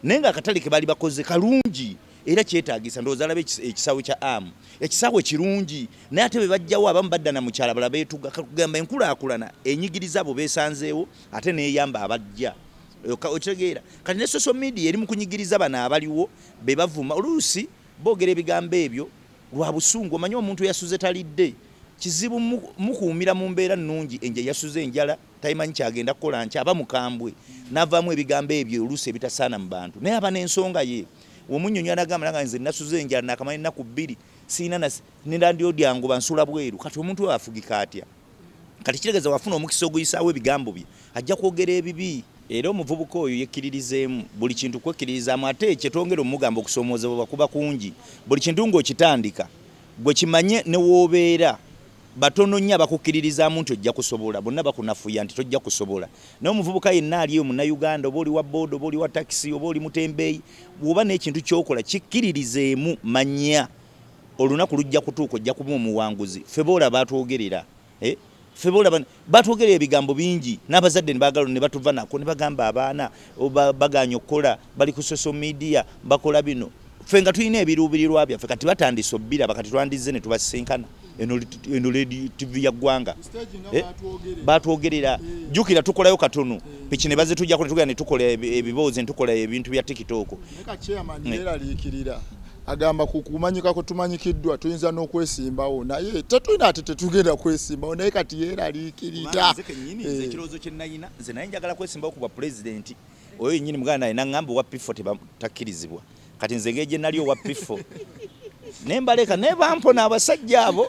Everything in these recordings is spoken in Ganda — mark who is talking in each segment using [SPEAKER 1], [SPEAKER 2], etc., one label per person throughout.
[SPEAKER 1] naye nga akatale ke baali bakoze kalungi era kyetaagisa ndowooza alaba ekisaawe kya amu ekisaawe kirungi naye ate be bajjawo abamu badda na mukyala bala beetuga kakugamba enkulaakulana enyigiriza abo beesanzeewo ate neeyamba abajja okitegeera kati ne social media eri mu kunyigiriza bano abaliwo be bavuma oluusi boogera ebigambo ebyo lwa busungu omanyi omuntu eyasuze talidde kizibu mukuumira mu mbeera nnungi enja yasuze enjala Tayimanyi kyagenda kukola nti aba mukambwe navaamu ebigambo ebyo oluusi ebitasaana mu bantu naye aba n'ensonga ye. Womunyonyi anagamba nanga nze nasuze enjala nakamala ennaku bbiri sirina na ne landiroodi angoba nsula bweru kati omuntu oyo afugika atya? Kati kitegeeza wafuna omukisa oguyisaawo ebigambo bye ajja kwogera ebibi. Era omuvubuka oyo yekkiririzeemu buli kintu kwekkiririzaamu ate kye twongera omugamba okusoomoozebwa kuba kungi. Buli kintu ng'okitandika ggwe kimanye ne w'obeera. Batono nnyo abakukkiririzaamu nti ojja kusobola. Bonna bakunafuya nti tojja kusobola. Naye omuvubuka yenna ali eyo, Munnayuganda, oba oli wa boda, oba oli wa takisi, oba oli mutembeeyi, bw'oba n'ekintu ky'okola, kikkiririzeemu. Manya olunaku lujja kutuuka, ojja kuba omuwanguzi. Ffe b'olaba atwogerera, eh? Ffe b'olaba. Batwogera ebigambo bingi n'abazadde ne baagala ne batuva nako ne bagamba abaana bagaanye okukola bali ku social media bakola bino ffe nga tulina ebiruubirirwa byaffe kati batandise obbiraba kati twandizze ne tubasisinkana eno ledi tv ya ggwanga eh? batwogerera eh. jukira tukolayo katono eh. piki ne bazitujako ne tugenda ne tukola ebiboozi ne tukola ebintu bya tikitooko
[SPEAKER 2] agamba ku kumanyika kwe tumanyikiddwa tuyinza n'okwesimbawo naye tetulina ate tetugenda kwesimbawo naye kati yeeraliikirira nze kenyini nze eh. ekirowoozo
[SPEAKER 1] kye nayina nze naye njagala kwesimbawo ku bwa pulezidenti oyo yenyini muganda naye naŋŋamba owa pifo takkirizibwa kati nze ngeri gye nali owa pifo naye mbaleka naye bampona abasajja abo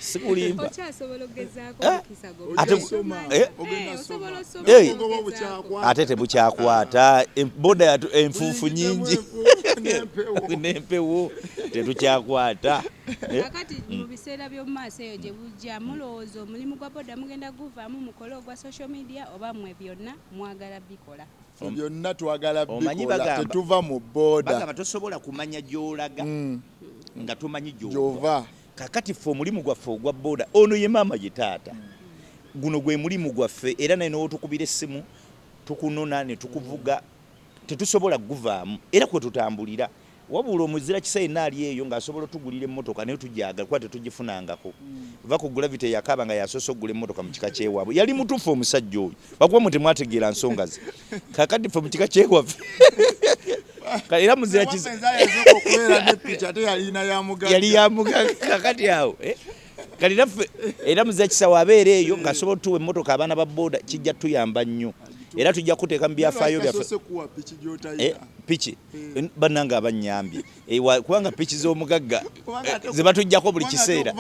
[SPEAKER 1] sikulimba okyasobola okugezaako eh? omukisa eh? eh? ate tebukyakwata boda enfuufu nyingi n'empewo tetukyakwata kakati
[SPEAKER 3] mu mm. biseera by'omu maaso eyo gye bujja mulowooza omulimu gwa boda mugenda guvaamu mukole ogwa social media oba mwe byonna mwagala bikola byonna twagala
[SPEAKER 2] bikola tetuva mu boda tosobola kumanya
[SPEAKER 1] gy'olaga mm. nga tomanyi gyova Kakati ffe omulimu gwaffe ogwa boda, ono ye maama ye taata, guno gwe mulimu gwaffe era naye n'otukubira essimu tukunona ne tukuvuga tetusobola kuguvaamu era kwe tutambulira. Wabula omuzirakisa yenna ali eyo ng'asobola otugulira emmotoka naye tugyagala kuba tetugifunangako. Vva ku Gravity eyakaaba nga y'asoose okugula emmotoka mu kika ky'ewaabwe. Yali mutuufu omusajja oyo. Lwakuba mmwe temwategeera nsonga ze. kakati fe mukika kyewaffe era muzira yali yamugaga kakati awo eh? kati naffe era muzira kisawo abeera eyo ngaasobola otuwa emmotoka abaana ba boda kijja tuyamba nnyo era tujja kuteeka mu byafaayo byaffe piki eh, eh. bannange abanyambye Ewa kubanga piki z'omugagga eh, zebatujjako buli kiseera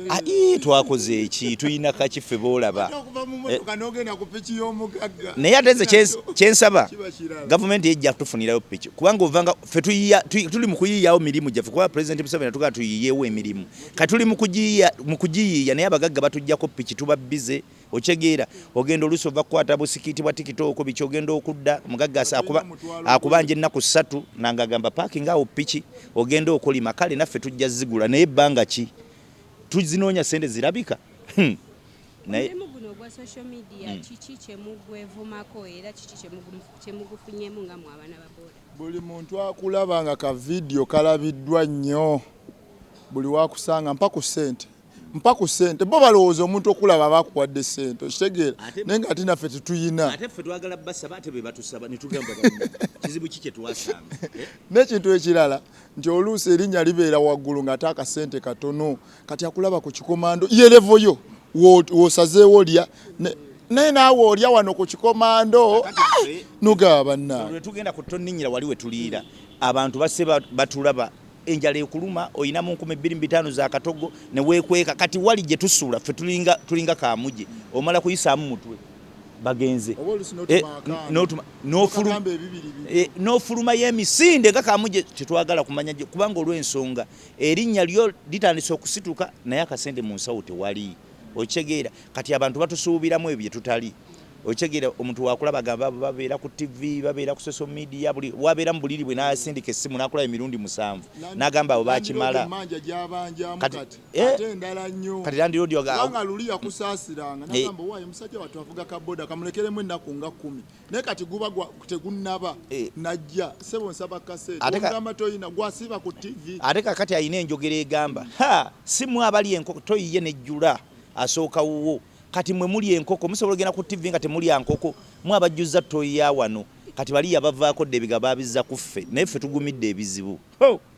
[SPEAKER 1] ah, twakoze eki tulina kakiffe boolaba eh, naye ate nze kyensaba gavumenti ejja kutufunirayo piki kubanga ovanga fe tuli mu kuyiiyawo mirimu gyaffe kuba pulezidenti museveni atugaa tuyiiyewo emirimu kati tuli mu kugiyiiya naye abagagga batujjako piki tuba bize Okitegeera ogenda oluusi ova kukwata busikiiti bwa tikitooko biki ogenda okudda omugagga asa- akuba- akubanja ennaku ssatu nanga agamba paakinga awo piki ogenda okolima kale naffe tujja zigula naye ebbanga ki tuzinoonya ssente zirabika Hmm. Ku
[SPEAKER 3] naye mulimu guno ogwa social media kiki kye mugwevumako era kiki kye mugu- kye mugufunyemu nga mwe abaana ba boda? buli muntu
[SPEAKER 2] akulaba nga ka vidiyo kalabiddwa nnyo buli wakusanga mpa ku ssente mpa ku sente bo balowooza omuntu okulaba aba akuwadde sente okitegeera naye nga ate naffe tetuyina
[SPEAKER 1] n'ekintu
[SPEAKER 2] ekirala nti oluusi erinnya libeera waggulu ng'ate akasente katono kati akulaba ku kikomando yerevo yo wosazeewo lya naye naawe olya wano ku kikomando nugaba bannawe wetugenda ku tonninyira
[SPEAKER 1] wali wetuliira abantu base batulaba enjala ekuluma olina mu nkumi bbiri mu bitaano za katogo ne weekweka kati wali gye tusula ffe tulinga kaamuje omala kuyisaamu mutwe bagenze eh, eh, n'ofuluma y'emisinde nga kaamuje tetwagala kumanya kubanga olw'ensonga erinnya lyo litandise okusituka naye akasente mu nsawo tewali okitegeera kati abantu batusuubiramu ebyo bye tutali Okitegeera omuntu wakulaba nga babeera ku TV, babeera ku social media, buli wabeera mu buliri bwe n'asindika essimu n'akulaba emirundi musanvu n'agamba abo bakimala. Kati landiroodi eh? kubanga luli
[SPEAKER 2] yakusaasiranga eh. n'agamba waayo musajja wattu avuga ka boda kamulekeremu ennaku nga kkumi naye kati guba tegunnaba eh. najja sebo nsaba kaseetogamba toyina gwasiba ku TV. Ate kakati alina enjogera
[SPEAKER 1] egamba ha simu abali enkoko toyiye nejjula asooka wuwo. Kati mwe mulya enkoko musobola ogenda ku TV nga temulya nkoko mwe abajjuzza ttoyi ya wano kati bali yabavaako dda ebigabo babizza ku ffe naye ffe tugumidde ebizibu hoo.